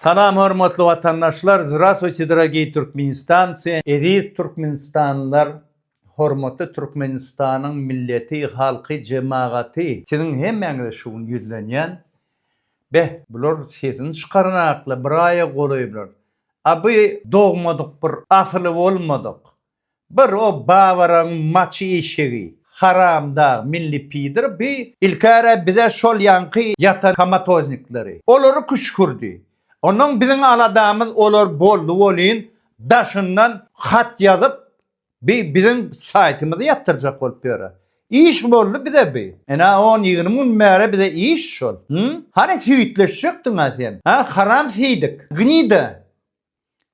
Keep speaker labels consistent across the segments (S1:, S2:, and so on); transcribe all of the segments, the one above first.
S1: Salam hormatly watandaşlar Zrasvuyte dragiý Türkmenistanci Eziz Türkmenistanlylar Hormatly Türkmenistanyň milleti halky jemagaty siziň hemmäňize şu gün ýüzlenýän beh bular sesini çykarnakly bir aýa golaý bular a bu dogmadyk bir asyly bolmadyk Bir o Bawaraň maçy eşegi haramdag milli pidor bi ilkäre bize şol ýaňky ýatan komatoznikleri olary küşkürdi onnoň biziň aladamyz olar boldy bolyn daşyndan hat ýazyp bi biziň saýtymyzy ýapdyrjak bolup ýöre iş boldy bize bi enä on ýigrimi gün bäri bize iş şol hany süýtleşjekdiňä sen ha haram siýdik gnida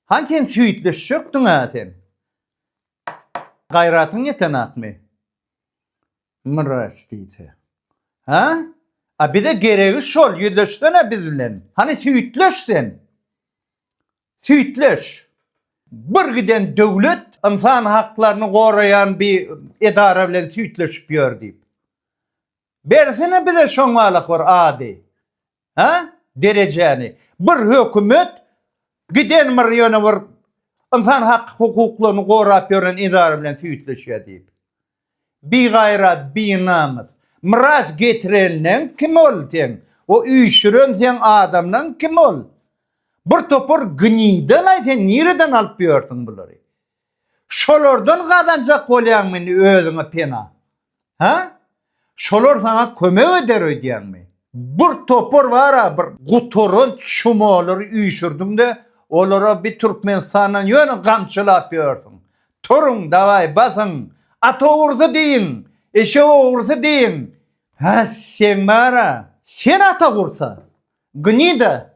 S1: Hany sen süýtleşjekdiň-ä sen? Gaýratyň ýetenakmy? Mrwes diýse. Hä? A bize geregi şol, ýüzleşsene biz bilen. Hany süýtleş sen. Süýtleş. Bir giden döwlet ynsan haklaryny goraýan bir edara bilen süýtleşip ýör diýip. Bersene bize şoň walakwor ady. Hä? Derejäni. Bir hökümet giden bir ýöne bir ynsan hak hukuklaryny gorap ýören edara bilen süýtleşýär diýip. Bigaýrat, binamys. Miraç getirenleň kim ol seň? O üýşüren seň adamlaň kim ol? Bir topar gnýdalaý sen nireden alyp ýörsiň bulary? Şolardan gazanjak bolýaňmy indi özüňe pena? Hä? Şolar saňa kömek eder öýdýäňmi? Bir topar bar-a, bir gutaranç şumalary üýşürdiň-de, olara bir Türkmenistandan ýöne gamçylap ýörsiň. Turuň, dawaý, basyň! At ogrusy diýiň, eşek ogrusy diýiň! Hä, seň bar-a, sen at ogursa, gnida!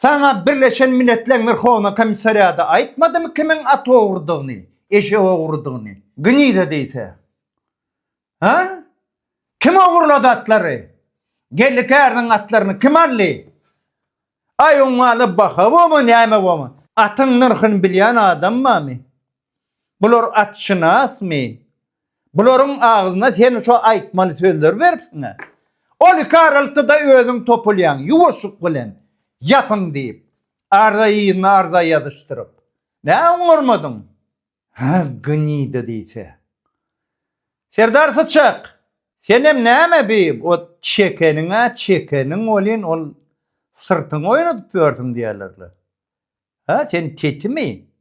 S1: Saňa Birleşen Milletleň Werhowna Komissariady aýtmadymy kimiň at ogrudygyny, eşek ogrudygyny? Gniýda diýse. Hä? Kim ogurlady atlary? Geldi käriniň atlaryny kim aldy? Aý oňa-da baha boma, näme boma. Atyň nyrhyny bilýän adam barmy? Bular atşynasmy? Bularyň agzyna sen şo aýtmaly sözleri beripsiň-ä. Ol iki araltyda özüň topulýaň, ýuwaşlyk bilen, ýapyň diýip, arza yzyna arza ýazyşdyryp. Nä oňarmadyň? Hä, gnida diýse. Serdar syçak, senem näme bi o çekeniň-ä çekeniň welin, ol syrtyňy oýnadyp ýörsüň diýerler-le. Hä, sen tetimi?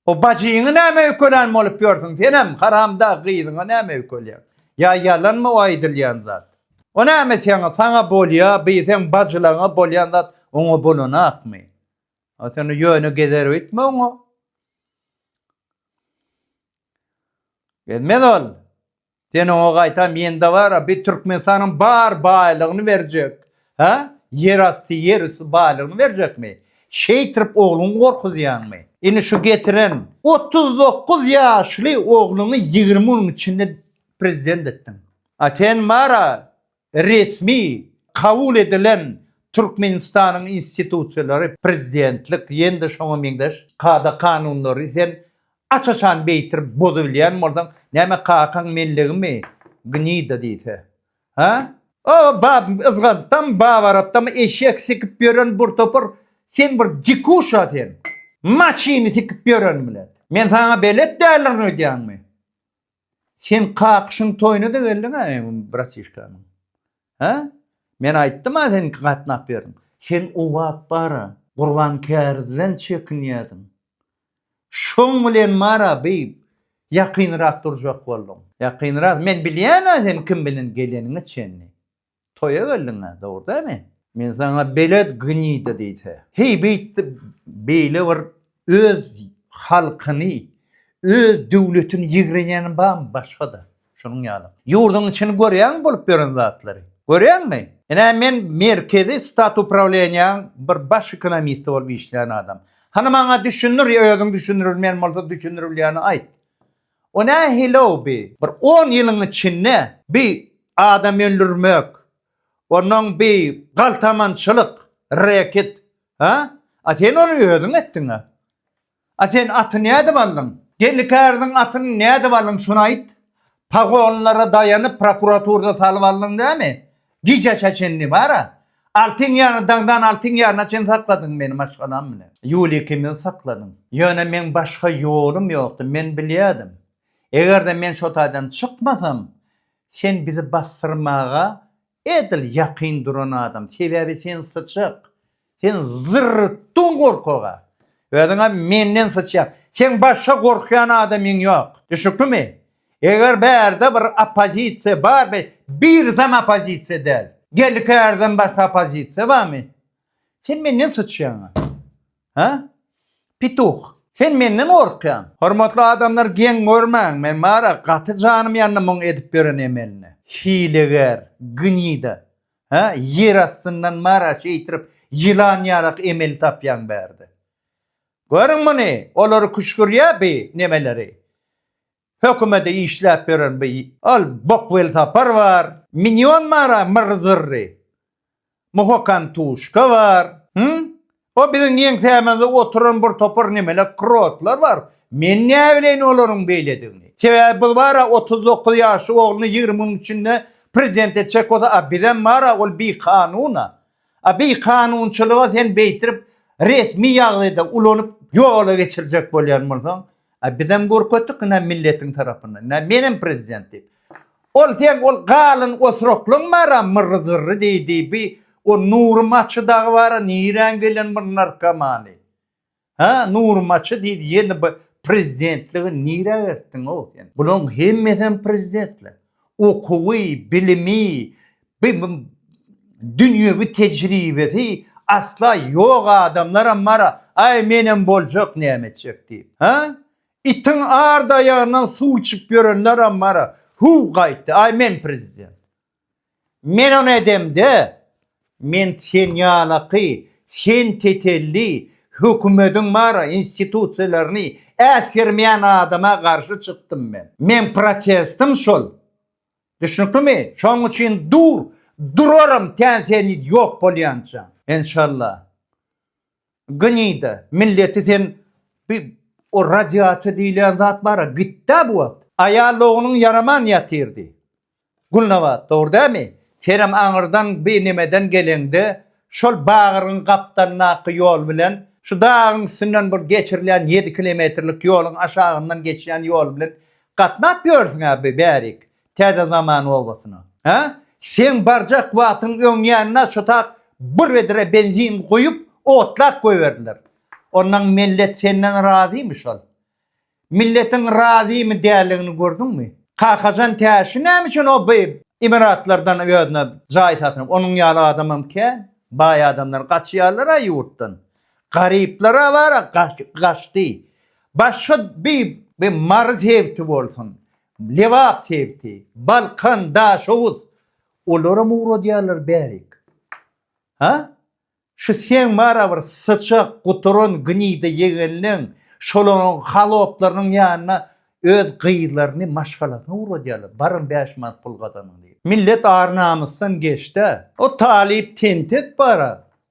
S1: O bajyňy näme öýkelän bolup ýörsüň senem, haramdag gyzyňa näme öýkelýäň? Ýa ýalanmy o aýdylýan zat? O näme seňe, saňa bolýa, bi seň bajylaňa bolýan zat oňa bolanakmy? A sen ýöne gezer öýtme oňa. Gezmez ol. Sen oňa gaýta mende bar-a, bi Türkmenistanyň bar baýlygyny berjek, hä? Ýerasty, ýerüsti baýlygyny berjekmi? Şeýtirip ogluňy gorkuzýaňmy? Indi şu getiren otuz dokuz ýaşly ogluňy ýigrimi günüň içinde prezident etdiň. A sen bar-a, Resmi kabul edilen Türkmenistanyň institusiýalary, prezidentlik, ýene-de şoňa meňzeş kada-kanunlary sen aç-açan beýtirip bozubilýän bolsaň, näme kakaň mellegimi, gnida diýse? Hä? O bab yzgantdam, bab arapdam eşek sikip ýören bir topar, sen bir dikuşa sen. Maşyny sikip ýören bilen. Men saňa belet däldirin öýdýäňmi? Sen kakyşyň toýuna-da geldiň-ä eňňim bratişkanyň. Hä? Men aýtdym-a sen iki gatnap berdiň. Sen o wagt bar-a, Gurban kärizden çekinýärdiň. Şoň bilen bar-a bi ýakynrak durjak bolduň. Ýakynrak, men bilýän-ä sen kim bilen geleniňi çenli. Toýa geldiňä, dogry dämi? Men saňa belet gnida diýse. Heý, beýtdi, beýle bir öz halkyny, öz döwletini ýigrenýäni barmy başga-da şunuň ýaly? Ýurduň içini görýäňmi bolup ýören zatlary? Görýäňmi? Ine, men merkezi Statuprawleniýaň bir baş ekonomisti bolup işleýän adam. Hany maňa düşündir ýa özüň düşündirilmeýän bolsa düşündirilýäni aýt. O nähili-ow bi? Bir on ýylyň içinde bi adam öldürmek, onnoň bi galtamançylyk, reket, a? A sen ony özüň etdiň-ä. A sen aty nädip aldyň? Gelnikäriziň atyny nädip aldyň, şony aýt? Pagonlara daýanyp prokuraturda salyp aldyň dämi? Gijä çenli bar-a. Altyn ýary dagdan altyn ýaryna çen sakladyň meni maşgalam bilen. Ýuliýa ikimizi sakladyň. Ýöne meň başga ýolum ýokdy. Men bilýärdim. Eger-de men şo taýdan çykmasam, sen bizi basdyrmaga edil ýakyn duran adam. Sebäbi sen syçak. Sen zyrrtdyň gorkaga. Özüňem menden syçýaň. Seň başga gorkýan adamyň ýok. Düşnüklimi? Eger bärde bir oppozisiýa bar be, birsem oppozisiýa däl. Geldi kärden başga oppozisiýa barmy? Sen menden syçýaň. Hä? Pituh. Sen menden gorkýaň. Hormatly adamlar geň görmäň men bara gaty janym ýandy muň edip ýören emeline. Hileger. Gnida. Hä, ýer astyndan mara şeýtirip ýylan ýalak emel tapýaň bärde. Görüň muny, olary küşgürýä bi nemeleri. Hökümede işläp ýören bi ol bok welsapar bar. Minýon mara myr-zyrry. Muhokan tuşka bar. Hüň, O biziň ýeňsämizde oturan bir topar nemelek krotlar bar. Men näbileýin olaryň beýledigini. Sebäbi biz bar-a otuz dokuz ýaşly ogluny ýigrimi günüň içinde prezident etjek bolsa, a bizem bar-a ol bikanun-a. A bikanunçylygy sen beýtirip resmi ýagdaýda ulanyp ýola geçirjek bolýan bolsaň, A bizem görkezdik ine milletiň tarapyndan ine menem prezident diýip. Ol seň ol galyn osuraklyň bara myrry zyrry diýdi bi ol Nury maçy dagy bara niräň gelen bir narkomany. Hä Nury maçy diýdi ýene bi prezidentligiň niräge eltdiňow sen. Bulaň hemmesem prezidentler. Okuwy, bilimi, bi-bi dünýewi tejribesi asla ýok adamlaram bar-a, aý menem boljak näme etjek diýip, hä? Itiň ard aýagyndan suw içip ýörenleram bar-a, hüw gaýtdy, aý men prezident, men ony edemde, Men sen ýalaky, sen tetelli, hökümediň bara institusiýalaryny äsgermeýän adama garşy çykdym men. Meň protestim şol. Düşnüklimi? Şoň üçin dur, durarym tän seni ýok bolýança. Enşalla. Gnida milleti sen bi o radiasiýa diýilýän zat bara gitdä bu wagt. Aýal ogluň ýaraman ýatyr diý. Gulnabat, dogry dämi? Senem aňyrdan bi nemeden geleňde, şol bagyryň gapdalyndaky ýol bilen, şu dagyň üstünden bir geçirilýän ýedi kilometrlik ýoluň aşagyndan geçýän ýol bilen gatnap ýörsiň-ä bi bärik. Täze Zaman obasyna. Hä? Seň barjak wagtyň öňýanyna şotak bir wedre benzin guýup, otlap goýberdiler. Ondan millet senden razymy şol? Milletiň razymy däldigini gördüňmi? Kakajan Täşli näme üçin o by Emiratlardan özüne jaý satyn alyp? Onuň ýaly adamam kän. Baý adamlar gaçýarlar-a ýurtdan. Garyplar awara gaçdy. Başga by, by Mary sebiti bolsun, Lebap sebiti, Balkan, Daşoguz. Olaram ugradýarlar bärik. Ha? Şu seň bara bir syçak, guturan, gnida ýegenleň, şolaryň haloplarynyň ýanyna öz gyzlaryny, maşgalasyny ugradýarlar. Baryň bäş manat pul gazanyň diýip. Millet ar-namysdan geçdi-ä. O talyp tentek bara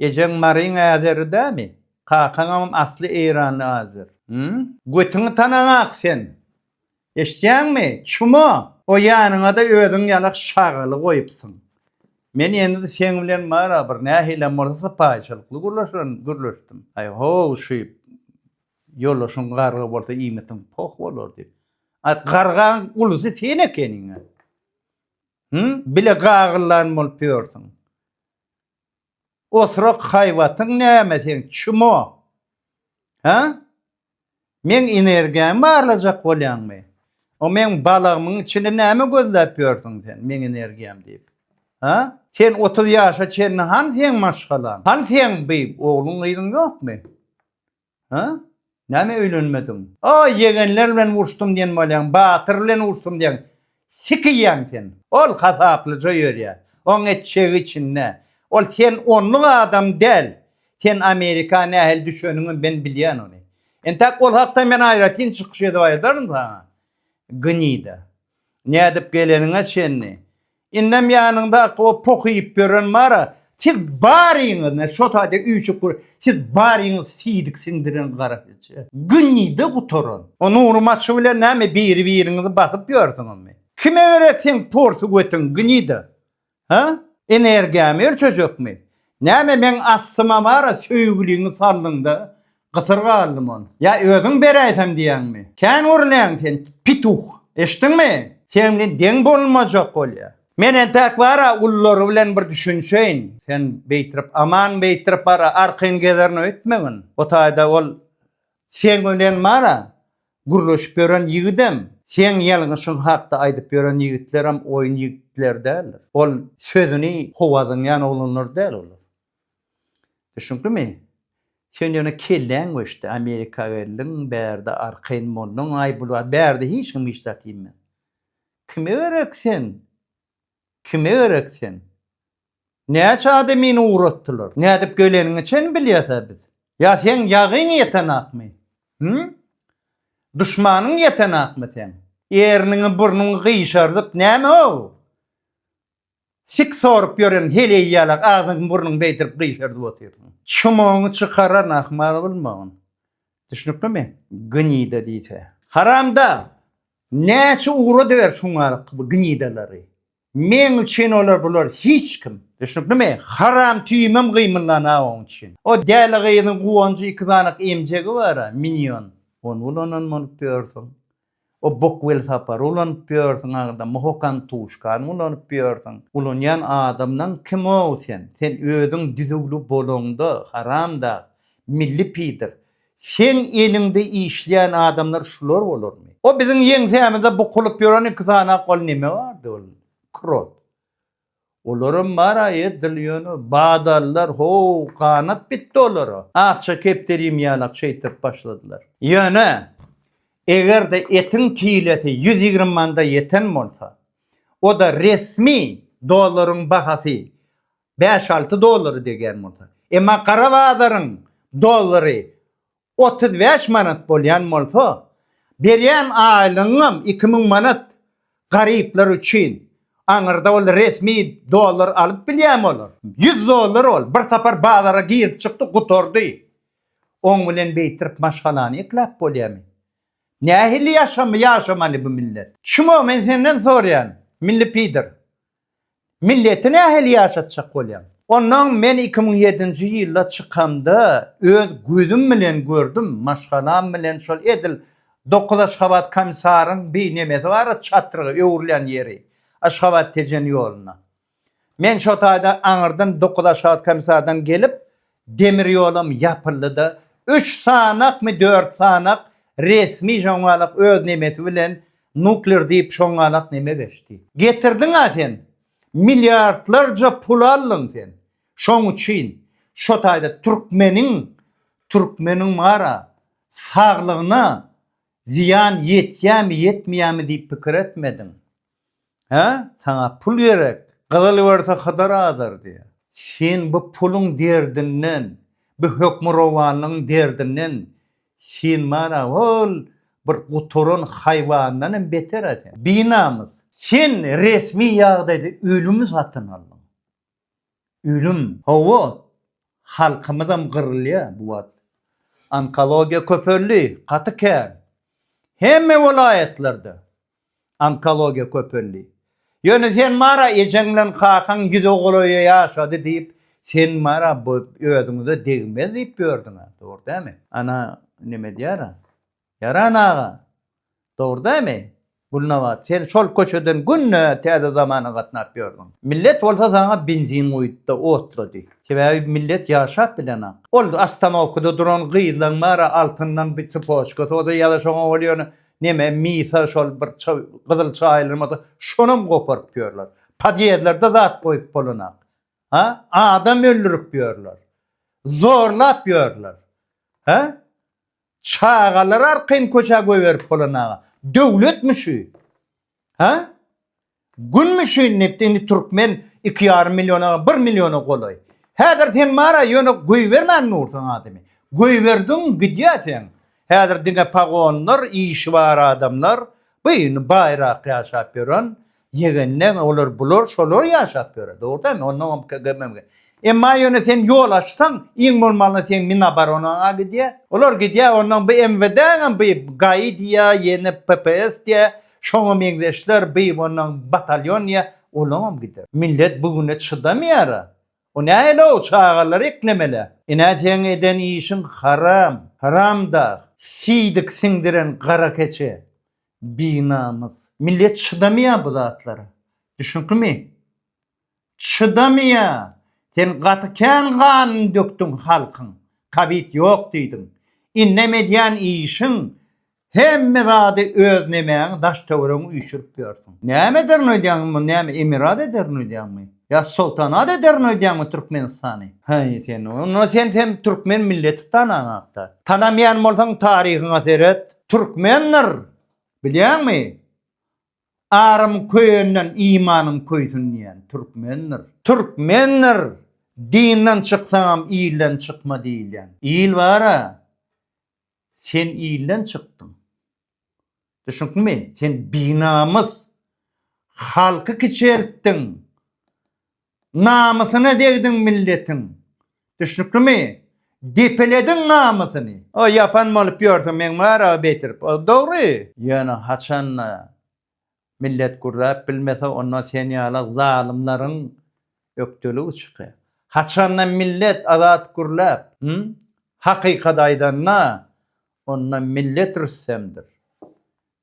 S1: Ejeň Maryň Azeri dämi? Kakaňam asly Eýranly Azer. Hümm. Götüňi tanaňak sen. Eşitýäňmi, çumo! O ýanyňada özüň ýala şagaly goýupsyň. Men indi seň bilen bara bir nähilem bolsa sypaýyçylykly gürleşdim. Aý, ho-ow, şu ýoldaşyň garga bolsa iýmitiň poh bolar diýip. Aý, gargaň ulusy sen ekeniň-ä. Hümm, bile gagyllan bolup ýörsüň. Oturak haýbatyň näme seň çumo? Hä? Meň energiýamy barlajak bolýaňmy? O meň balagymyň içinde näme gözläp ýörsüň sen, meň energiýam diýip? Hä? Sen otuz ýaşa çenli hany seň maşgalaň? Hany seň bi ogluň gyzyň ýokmy? Hä? Näme öýlenmediň? O, ýegenler bilen urşdum diýen bolýaň, batyr bilen urşdum diýýäň. Sik iýýäň sen. Ol hasaplyja ýörýär. Oň etjegi içinde. Ol sen onluk adam däl. Sen Amerika nähili düşeniňem men bilýän ony. Entäk ol hakda men aýratyn çykyş edip aýdaryn saňa. Gnida. Nädip geleniňe çenli. Indem ýanyňdaky o poh iýip ýören mara, siz baryňyz, ne şo taýda üýşüp dur, siz baryňyz siýdik siňdiren gara heje. Günide gutaran. O Nury maçy bilen näme biri-biriňizi basyp ýörsüňizmi? Kime görä seň porsy götiň günide? Hä? Energiýamy ölçejekmi? Näme meň astyma mara söýgüliňi saldyň-da, Gysyr galdym ol. Ýa özüň beräýsem diýýäňmi? Kän gürläň sen, pituh! Eşitdiňmi? Seniň bilen deň bolmajak bolýa. Men entäk bar-a gullary bilen bir düşünişeýin. Sen beýtirip, aman beýtirip bar-a arkaýyn gezerin öýtmegin. O taýda ol seň bilen bar-a gürleşip ýören ýigidem, seň ýalňyşyň hakda aýdyp ýören ýigitlerem oýun ýigitleri däldir. Ol sözüni howa zyňýan oglanlar däl olar. Düşüniklimi? Sen ýöne kelläň göçdi, Amerika geldiň, bärde arkaýyn bolduň, aý bu zat, bärde hiç kim hiç zat iýmez. Kime gerek sen? Kime gerek sen? Näçe adamyny ugratdylar? Nädip geleniňi çen bilýäs-ä biz? Ýa seň ýagyň ýetenakmy? Hümm? Duşmanyň ýetenakmy seň? Erniňi burnuňy gyşardyp näme-ow? Sik sorup ýören heleý ýala agzyň-burnuň beýdirip gyşardyp otyrsyň. Çumagyňy çykaran ahmal bolmagyn. Düşnüklimi? Gnida diýse. Haramdag! Näçe ugrady ber şuňar bu gnidalary. Meň üçin olar bular hiç kim. Düşnüklimi? Haram tüýümem gymyldan-a oň üçin. O däli gyzyň guwanjy iki sanak emjegi bar-a, minýon. Ony ulanan bolup ýörsüň. O bok welsapary ulanyp ýörsüň agda mohokan tuşkan ulanyp ýörsüň ulanýan adamlaň kimow sen sen özüň düzüwli bolaňda haramdag milli pidir seň eliňde işleýän adamlar şular bolarmy o biziň ýeňsämize bukulyp ýören iki sany ak ol neme bardy ol krot Olaram bar-a edil ýöne, badallar, ho-w, ganat bitdi olara. Akja kepderim ýalak şeýtip başladylar. Ýöne, eger-de etiň kilesi ýüz ýigrimi manda ýeten bolsa, o-da resmi dollaryň bahasy bäş-alty dollary degýän bolsa, emma gara bazaryň dollary otuz bäş manat bolýan bolsa, berýän aýlygyňam iki müň manat garyplar üçin, aňyrda ol resmi dollar alyp bilýärmi olar? Ýüz dollar ol, bir sapar bazara girip çykdy, gutardy. Oň bilen beýtirip maşgalany ekläp bolýamy? Nähili ýaşamy ýaşamaly bu millet? Çmo, men senden sorýan, milli pider. Milleti nähili ýaşatjak bolýaň? Onnoň men iki müň ýedinji ýylda çykamda öz gözüm bilen gördüm, maşgalam bilen şol edil dokuz Aşgabat komisaryň bi nemesi bar-a çatrygy öwrülen ýeri, Aşgabat Tejen ýolunda. Men şo taýda aňyrdan dokuz Aşgabat komisardan gelip, Demir ýolam ýapyldy-da, üç sanakmy, dört sanak resmi şoňňalak öz nemesi bilen nukler diýip şoňňalak neme geçdi. Getirdiň-ä sen, milliardlarja pul aldyň sen. Şoň üçin şo taýda türkmeniň, türkmeniň bar-a, saglygyna zyýan ýetýämi, ýetmeýämi diýip pikir etmediň. Hä, saňa pul gerek, gyzyl berse Hydyr azar diýýär. Sen bu puluň derdinden, bu hökmürowanlygyň derdinden sen bar-a ol bir gutaran haýwandan hem beter-ä sen. Binamys, sen resmi ýagdaýda ölümi satyn aldyň. Ölüm, hawa, halkymyzam gyrylýa bu wagt. Onkologiýa köpeldi, gaty kän. Hemme welaýatlarda onkologiýa köpeldi. Ýöne sen bar-a ejeň bilen kakaň ýüz ogulaýa ýaşady diýip, sen bar-a özüňize degmez diýip ýördüň-ä, dogry dälmi? Ana, neme edýär-a? Ýaran aga, dogry dämi? Gülnabat, sen şol köçeden günde Täze Zamana gatnap ýördüň. Millet bolsa saňa benzin guýupdy, otlady. Sebäbi millet ýaşap bilenok. Ol ostanowkada duran gyzlaň bar-a, altyndan bir tsypoçkasy bolsa ýa-da şoňa ol ýöne neme, misa şol bir gyzyl çaýylan bolsa, şonam goparyp ýörler. Podýezlerde zat goýup bolanok. Hä? Adam öldürip ýörler. Zorlap ýörler. Hä? Çagalar arkaýyn köçä goýberip bolan aga. Döwletmi şu? Hä? Günmi şu indi indi türkmen iki ýarym milliona bir milliona golaý. Häzir sen bara ýöne goýbermän dursaň adamy. Goýberdiň gidýä sen. Häzir diňe pagonlar, işi bar adamlar, bu indi baýrak ýaşap ýören, Ýegenden olar bular şolar ýaşap ýöre, dogry däl mi? Onnoňam KGB-MGB. Emma ýöne sen ýol açsaň, iň bolmanda seň Minoboronaň-a gidýär. Olar gidýär, onnoň by MWD-ňem by GAI diýýär, ýene PPS diýýär, şoňa meňzeşler, by onnoň batalýon diýýär, olaňam gider. Millet bu güne çydamaýar-a. O nähili-ow, çagalary eklemelär. Ine seň eden işiň haram, haramdag, siýdik siňdiren gara keçe. Binamys. Millet çydamaýar bu zatlara. Düşnüklimi? Çydamaýar. Sen gaty kän ganyny dökdüň halkyň. Kowid ýok diýdiň. Indem edýän işiň hemme zady öz nemäňi daş-töweregiňi üýşürip ýörsüň. Näme ederin öýdýäňmi muny näme emirat ederin öýdýäňmi? Ýa soltanat ederin öýdýäňmi Türkmenistany? Haý sen onda sen hem türkmen milleti tanaňakda. Tanamaýan bolsaň taryhyňa seret. Türkmendir, bilýäňmi? Arym köýenden imanyň köýsün diýýän, türkmendir. Türkmendir, dinden çyksaňam ilden çykma diýilýän. Il bar-a, sen ilden çykdyň. Düşünikmi? Sen binamys. Halky kiçeltdiň. Namysyna degdiň milletiň. Düşnüklimi? Depelediň namysyny. O ýapan bolup ýörsiň meň barada betirip. O dogry. Ýöne haçanda millet gürläp bilmese onda sen ýala zalymlaryň ökdeligi çyka. Haçanda millet azat gürläp, hü? Hakykat aýdanda onda millet rüstemdir.